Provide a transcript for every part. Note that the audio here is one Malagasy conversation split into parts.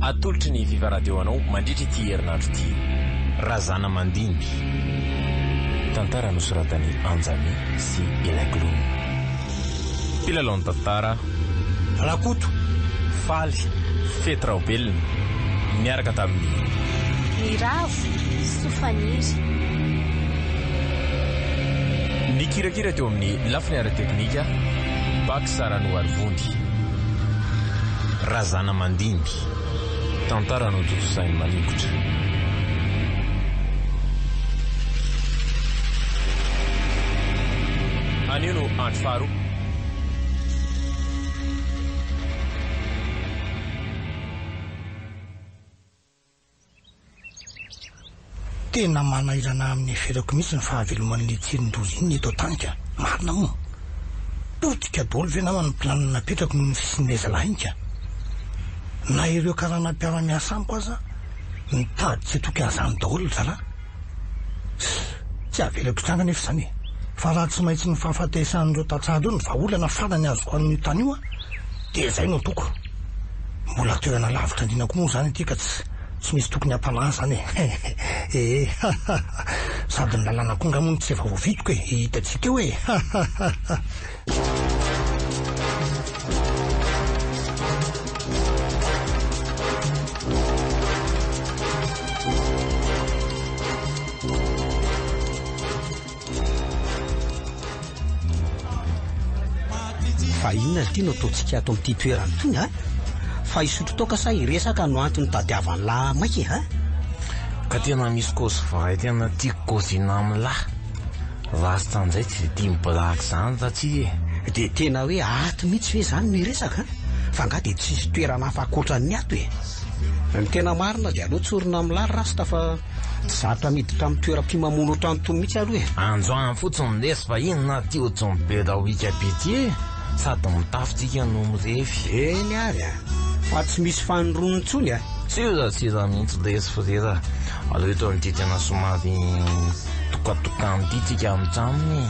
Atolotry ny Viva Radio anao mandritra ity herinandro ity. Razana Mandimby. Tantara nosoratan'i Anjamy sy Elaglono. Mpilalao ny tantara, Rakoto, Faly, Fety Raobelina, niaraka tamin'i. Miravo soa faniry. Nikirakira teo amin'ny lafiny ara-teknika, Bax. Saranoarivony, Razana mandimby, tantara notontosain'i Maningotra. Anio no andro faharoa. Tena manahirana amin'ny eferako mihitsy ny fahaveloman'ilay tsirin-doza iny eto an-tany ka! Marina moa! Potika daholo ve namana ny planina napetrako noho ny fisian'ilay zalahiny ka! Na ireo karana mpiara-miasa amiko aza mitady tsy toky an'izany daholo ry zalahy! Tsia, tsy avelako hitranga anefa izany e! Fa raha tsy maintsy ny fahafatesan'ireo tantsaha ireo no vahaolana farany azoko amin'io tany io an, dia izay no ataoko. Mbola toerana lavitra andiana koa moa izany ity ka tsy tsy misy tokony hampanahy izany e! Hehehe! Hahaha! Sady ny lalàna koa angaha moa no tsy efa voavidiko e! Hita tsy teo e! Hahaha! Fa inona ity no ataontsika ato amin'ity toerana ity ha? Fa hisotro toaka sa hiresaka no antony tadiavan'ny lahy maika ha? Ka tena misy cause vrai tena tiako gozina amin'ny lahy. Ratsy tandray tsy dia tia ny blague zany Ratsy e! Dia tena hoe ato mihitsy ve izany no hiresaka an? Fa angaha dia tsisy toerana hafa ankoatran'ny ato e! Ny tena marina dia aleo tsorina amin'ny lary rasta fa tsy zatra miditra amin'ny toeram-pimamoana ohatran'itony mihitsy aloha e! Androany fotsiny lesy fa inona ary ity ohatran'ny be da wicap ity e! Sady mitafy tsika no mirefy. Eny ary an! Fa tsy misy fanirony intsony an! Tsia Ratsy raha mihitsy lesy frera! Aleo eto amin'ity tena somary Tokatokano ity tsika mijanona e.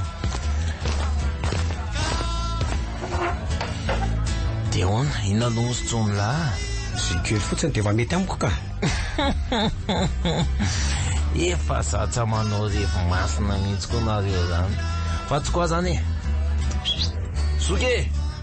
Dia hoana, inona no ozy tsomolahy? Sy kely fotsiny dia efa mety amiko ka. Efa zatra manao revy masina mihitsy koa nareo zany. Fa tsy koa zany e. Zoky e!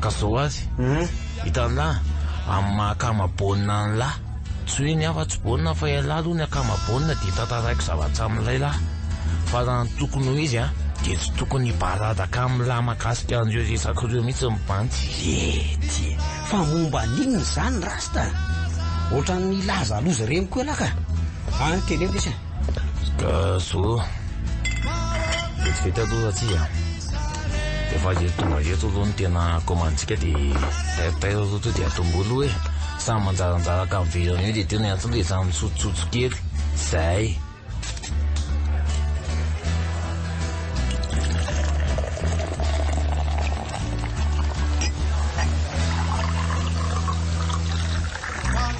Ka zao azy, hitan'lah, amin'ny maha akama baolina an'lah, tsy hoe ny hafa tsy baolina fa ialahy aloha ny akama baolina dia tantaraiko zavatra amin'ilay lah, fa raha ny tokony ho izy an, dia tsy tokony hibaradaka amin'lah mahakasika an'ireo resaka ireo mihitsy ny bandy. Ety, fa momba an'inona izany rasta? Ohatran'ny hilaza loza ireny koa ialahy ka! Any teneno lesy an! Zo Vetivety aloha atsika Efa eto tonga eto aloha ny tena commande-tsika de Taitaitra aloha to de atombohy aloha e Samy manjaranjara ankaviroana eo de tena eto le samy misotsosotso kely Zay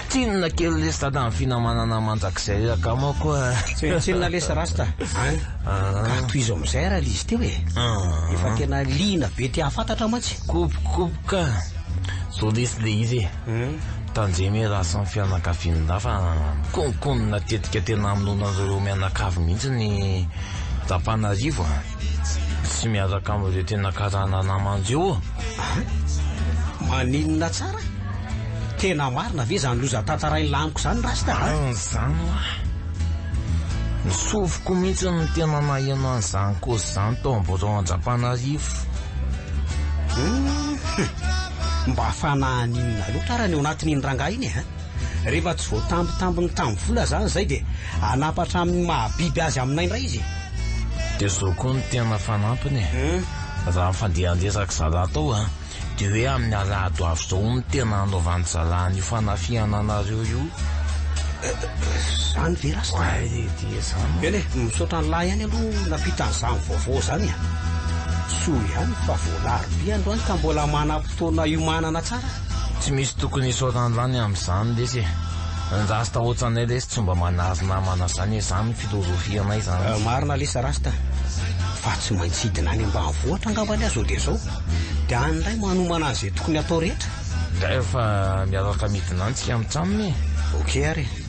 Tsinona kely lesy dada ny finamanana mandrakizay ry akama koa a. Tsy hoe tsinona lesy rasta an! Ka tohizo amin'izay raha lzy teo e! Efa tena liana be te hahafantatra mantsy. Kopokopoka zao lesy le izy e! Tandremo e raha samy fianakavian'lah fa mikonokonona tetika tena hamonoana an'ireo mianakavy mihitsy ny Rapanarivo a! Tsy miaraka amin'ireo tena karana namany ireo ô! Aha! Maninona tsara? Tena marina ve izany loza tantarain'i Laniko izany Rasta a? An izany hoa! Ny sofiko mihitsy no tena naheno an'izany cause izany tao amin'ny birao Andrapanarivo. Hum! Mba fanahin'inona loatra ary ny ao anatin'iny rangahy iny e! Rehefa tsy voatambitambiny tamin'ny vola izany izay dia hanapa hatramin'ny maha biby azy aminay indray izy e! Dia zao koa no tena fanampiny e! Raha ny fandehandesan-dry zalahy tao an! Dia hoe amin'ny alahady ho avy izao no tena hanaovan'ny zalahy an'io fanafihana anareo io Izany ve rasta? Oay e! Dia izany e! Eny e! Misaotra an'lah ihany aloha nampita an'izany vaovao izany e! Soa ihany fa voalaro be androany ka mbola manam-potoana hiomanana tsara. Tsy misy tokony hisaotra an'zany amzany lesy e! Ny rasta otranay lesy tsy mba manazo namana zany e! Zany ny filozofianay zany lesy. Marina lesy rasta fa tsy maintsy hidina any ambanivohitra angamba anie zao dia zao dia any indray manomana an'izay tokony hatao rehetra. Dray fa miaraka midina any tsika mitsamina e! Ok ary e!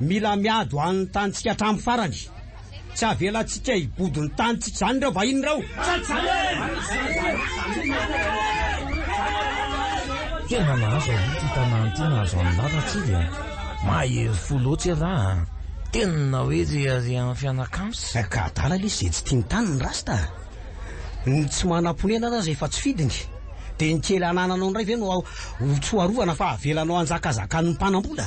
Mila miado any ny tanintsika hatramin'ny farany. Tsy avelantsika hibodo ny tanintsika izany ireo vahiny ireo. Tena nahazo aloha ity tanàna ity nahazo an'i Lala tsy dia mahery fo loatra i Ra a! Tena hoe reharehan'ny fianakams. Ka adala lesy izay tsy tia ny taniny ny rasta a! Ny tsy manam-ponenana aza efa tsy fidiny, dia ny kely anananao indray ve no ho tsoarovana fa avelanao hanjakazakan'ny mpanam-bola?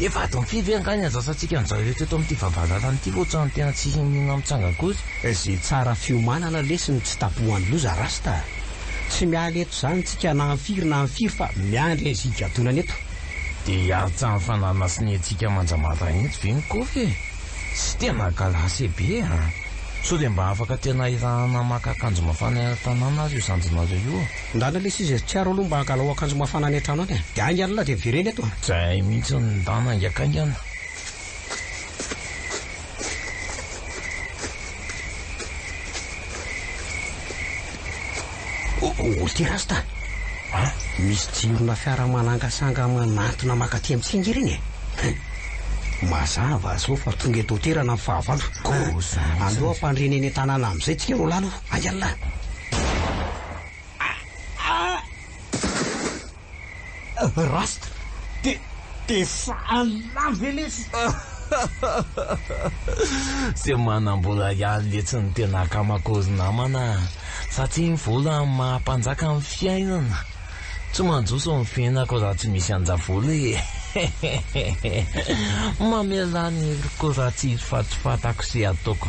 Efa adin'ny fito ve angaha ny adatsantsika amin'izao ireto eto amin'ity vavahadalana ity fa ohatran'ny tena tsy hinona mitsanga akory. Izay tsara fiomanana lesy no tsy tapohan'ny loza rasta a! Tsy miala eto izany tsika na amfiry na amfiry fa miandry an'izay higadonana eto. Dia hiantsahan'ny fananasiniantsika manja maraina eto ve ny kofy e? Tsy tena galase be a! Sao dia mba afaka tena hirahana maka akanjo mafana eny an-tanàna ary io zandrinareo io? Ndana lesy izy e, tsiaro aloha mba hangalao akanjo mafana any an-trano any e, dia hainga an'la dia avereno eto e. Tsy hay mihitsy ny ndana haingankaingana. Olo ty rasta a! Misy jirona fiara manangasanga manantona makaty amin'ny singa ireny e! Mazava zao fa tonga eto toerana amin'ny fahavalo. Aleo ampandriana eny an-tanàna amin'izay tsika ro lany ô! Hainga an'la! Rasta de de fahalà ve lesy? Tsy manam-bola ihany letsy ny tena akamako ry namana fa tsy ny vola no maha mpanjaka ny fiainana. Tsy manjoso ny fiainako raha tsy misy anjavola e! Mamelà ny heriko raha tsisy fatifatako sy ataoko.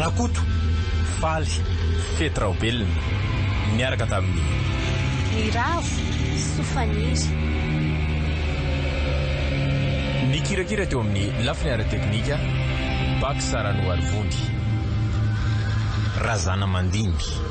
Rakoto, faly, fety raobelina, niaraka tamin'i. Ny ravo, soa faniry. Nikirakira teo amin'ny lafiny ara-teknika, Bach Saranoarivondi. Razanamandimby.